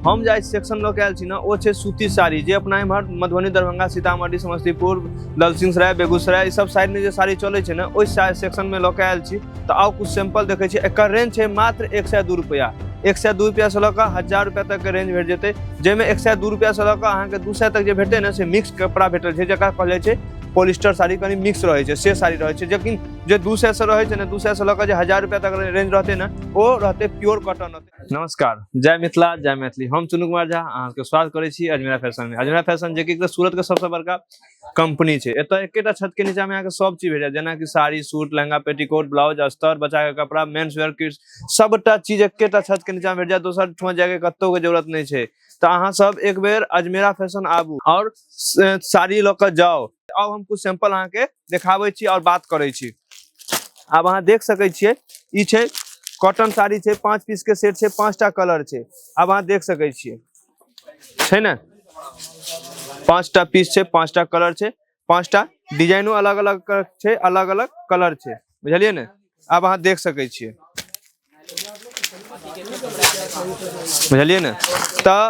हम जाहि सेक्शन लऽ के आयल छी ने ओ छै सूती साड़ी जे अपना एम्हर मधुबनी दरभंगा सीतामढ़ी समस्तीपुर ललसिंहसराय बेगूसराय ई सब साइडमे जे साड़ी चलै छै ने ओहि सा- सेक्शनमे लऽ के आयल छी तऽ आउ कुछ सैंपल देखै छी एकर रेंज छै मात्र एक सए दू रुपैआ एक सए दू रुपैआसँ लऽ कऽ हजार रुपैआ तकके रेंज भेट जेतै जाहिमे एक सए दू रुपैआसँ लऽ कऽ अहाँके दू सए तक जे भेटतै ने से मिक्स कपड़ा भेटल छै जकरा कहल जाइ छै पॉलिस्टर साड़ी कनि मिक्स रहै छै से साड़ी रहै छै लेकिन जे दू सएसँ रहै छै ने दू सएसँ लऽ कऽ जे हजार रुपैआ तक रेंज रहतै ने ओ रहतै प्योर कॉटन रहतै नमस्कार जय मिथिला जय मैथिली हम चुनू कुमार झा अहाँके स्वागत करै छी अजमेरा फैशन में अजमेरा फैशन जे कि सूरत के सबसे बड़का कंपनी छै एतय एकेटा छत के नीचा में अहाँके सब चीज भेट जायत जेनाकि sari suit lehenga petticoat blouse अस्तर बच्चा के कपड़ा मेन्स वेयर किड्स सबटा चीज एकेटा छत के नीचा में भेट जायत दोसर ठुआ जाय के कतौ के जरूरत नहीं छै तऽ अहाँ सब एक बेर अजमेरा फैशन आबू और साड़ी लऽ कऽ जाओ अब हम कुछ सैंपल अहाँ के देखाबे छी और बात करे छी अब अहाँ देख सके छे ई छे कॉटन साड़ी छे पांच पीस के सेट छे पांचटा कलर छे अब अहाँ देख सके छे छे ना पांचटा पीस छे पांचटा कलर छे पांचटा डिजाइनो अलग अलग छे अलग अलग कलर छे बुझलिए ने अब अहाँ देख सके छे बुझलियै ने तऽ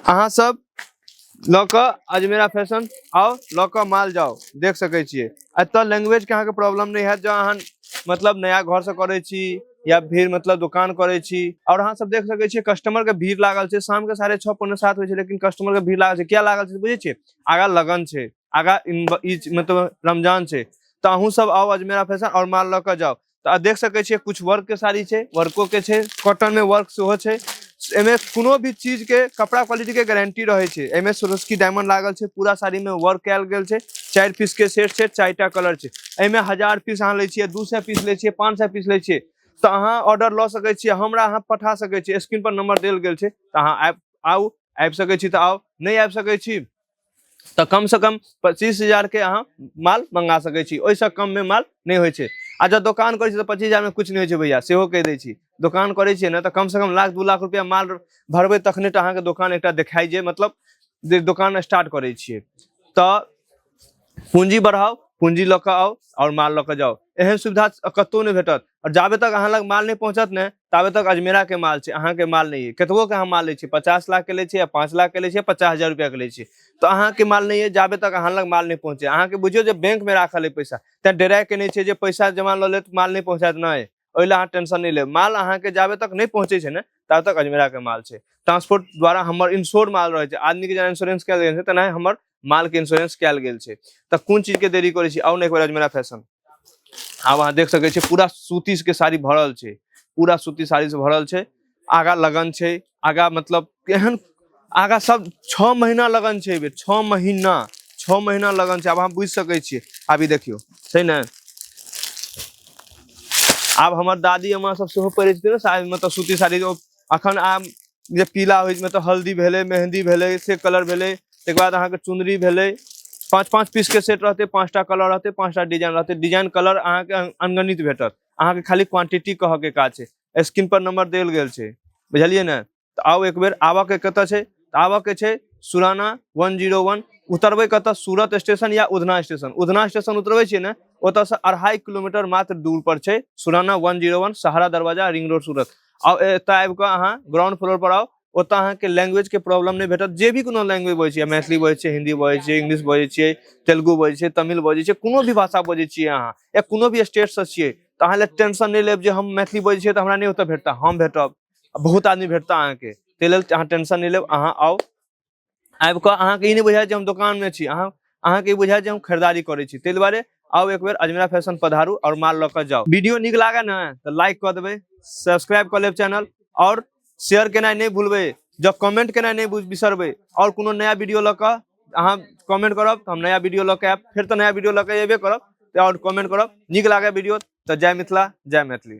अहाँ सब लऽ कऽ अजमेरा फैशन आउ लऽ कऽ माल जाउ देख सकै छियै एतऽ लैंग्वेज के अहाँके प्रॉब्लम नहि हैत जँ अहाँ मतलब नया घर से करै छी या फिर मतलब दुकान करै छी और अहाँ सब देख सकै छियै कस्टमर के भीड़ लागल छै शाम के साढ़े छः पौने सात होइ छै लेकिन कस्टमर के भीड़ लागल छै किया लागल छै से बुझै छियै आगा लगन छै आगा इन- ई मतलब रमजान छै तऽ अहूँ सब आउ अजमेरा फैशन और माल लऽ कऽ जाउ तऽ अहाँ देख सकै छियै कुछ वर्क के साड़ी छै वर्को के छै कॉटन में वर्क सेहो छै एमे कोनो भी चीज के कपड़ा क्वालिटी के गारंटी रहे छै एमे सोरोस्की डायमंड लागल छै पूरा साड़ी में वर्क कैल गेल छै चार पीस के सेट छै चारिटा कलर छै एमे हजार पीस अहाँ ले छियै दू सौ पीस ले छियै पाँच सौ पीस ले छियै तऽ अहाँ ऑर्डर लऽ सकै छियै हमरा अहाँ पठा सकै छियै स्क्रीन पर नंबर देल गेल छै तऽ अहाँ आबि आउ आबि सकै छी तऽ आउ नहि आबि सकै छी तऽ कम से कम पच्चीस हजार के अहाँ माल मंगा सकै छी ओहिसँ कम में माल नहीं होइ छै आ जब दोकान करै छी तऽ पच्चीस हजार में कुछ नहीं होइ छै भैया सेहो कहि दै छी दोकान करै छियै ने तऽ कम से कम लाख दू लाख रुपया माल भरबै तखने टा अहाँके दोकान एकटा देखाइ जे मतलब जे दोकान स्टार्ट करै छियै तऽ पूंजी बढ़ाओ पूंजी लऽ कऽ आउ आओर माल लऽ कऽ जाउ एहन सुविधा कतहु नहि भेटत आओर जाबे तक अहाँ लग माल नहि पहुँचत ने ताबे तक अजमेरा के माल छै अहाँ के माल नहीं है कतबो के अहाँ माल लै छियै पचास लाख के लै छियै या पाँच लाख के लै छियै पचास हजार रुपया के लै छियै तो अहाँ के माल नहीं है जाबे तक अहाँ लग माल नहीं पहुंचे अहाँ के बुझियो जे बैंक में राखल है पैसा तैं डराय के नहीं छै जे पैसा जमा लऽ लेत माल नहीं पहुंचायत नहि ओहि लए अहाँ टेंशन नहीं लेब माल अहाँ के जाबे तक नहीं पहुंचे छै ने ताबे तक अजमेरा के माल छै ट्रांसपोर्ट द्वारा हमर इंश्योर माल रहै छै आदमी के जेना इंश्योरेंस कयल गेल छै तेनाहि हमर माल के इंश्योरेंस कयल गेल छै तऽ कोन चीज के देरी करै छी आउ ने एक बार अजमेरा फैशन आब अहाँ देख सकै छियै पूरा सूती के साड़ी भरल छै पूरा सूती साड़ी से भरल छै आगा लगन छै आगा मतलब एहन आगा सब छः महीना लगन छै एहि छः महीना छः महीना लगन छै आब अहाँ बुझि सकै छियै आब ई देखियौ छै ने आब हमर दादी अम्मा सब सेहो पहिरै छथिन ने साड़ी मतलब सूती साड़ी अखन आम जे पीला होइ मतलब हल्दी भेले मेहंदी भेले से कलर भेले तकर बाद अहाँके चुनरी भेले पाँच पाँच पीस के सेट रहते पाँचटा कलर रहते पाँचटा डिजाइन रहते डिजाइन कलर अहाँके अनगणित भेटत अहाँके खाली क्वांटिटी कह के काज छै स्क्रीन पर नंबर देल गेल छै बुझलिए ने तो आओ एक बेर आबऽ के कत है आबऽ के छै सुराना वन जीरो वन उतरबे कत सूरत स्टेशन या उधना स्टेशन उधना स्टेशन उतरबे छे ने ओतसँ अढ़ाई किलोमीटर मात्र दूर पर छै सुराना वन zero one Sahara Darwaja ring road Surat आउ एतय आबि कऽ अहाँ ग्राउंड फ्लोर पर आउ ओतय अहाँके लैंग्वेज के प्रॉब्लम नहि भेटत जे भी कोनो लैंग्वेज बजै छियै मैथिली बजै छियै हिंदी बजै छियै इंग्लिश बजै छियै तेलुगु बजै छियै तमिल बजै छियै कोनो भी भाषा बजै छियै अहाँ या कोनो भी स्टेटसँ छियै तऽ अहाँ लए टेंशन नहि लेब जे हम मैथिली बजै छियै तऽ हमरा नहि ओतय भेटता हम भेटब आ बहुत आदमी भेटता अहाँके ताहि लेल अहाँ टेंशन नहि लेब अहाँ आउ आबि कऽ अहाँके ई नहि बुझायत जे हम दोकानमे छी अहाँ अहाँके ई बुझायत जे हम खरीदारी करै छी ताहि दुआरे आउ एक बेर अजमेरा फैशन पधारू और माल लऽ कऽ जाउ वीडियो नीक लागे ने तऽ लाइक कऽ देबै सब्सक्राइब कऽ लेब चैनल और शेयर केनाइ नहि भूलबै जब कमेंट केनाइ नहि बुझ- बिसरबै और कोनो नया वीडियो लऽ कऽ अहाँ कमेंट करब तऽ हम नया वीडियो लऽ कऽ आयब फेर तऽ नया वीडियो लऽ कऽ अयबे करब तऽ और कमेंट करब नीक लागे वीडियो तऽ जय मिथिला जय मैथिली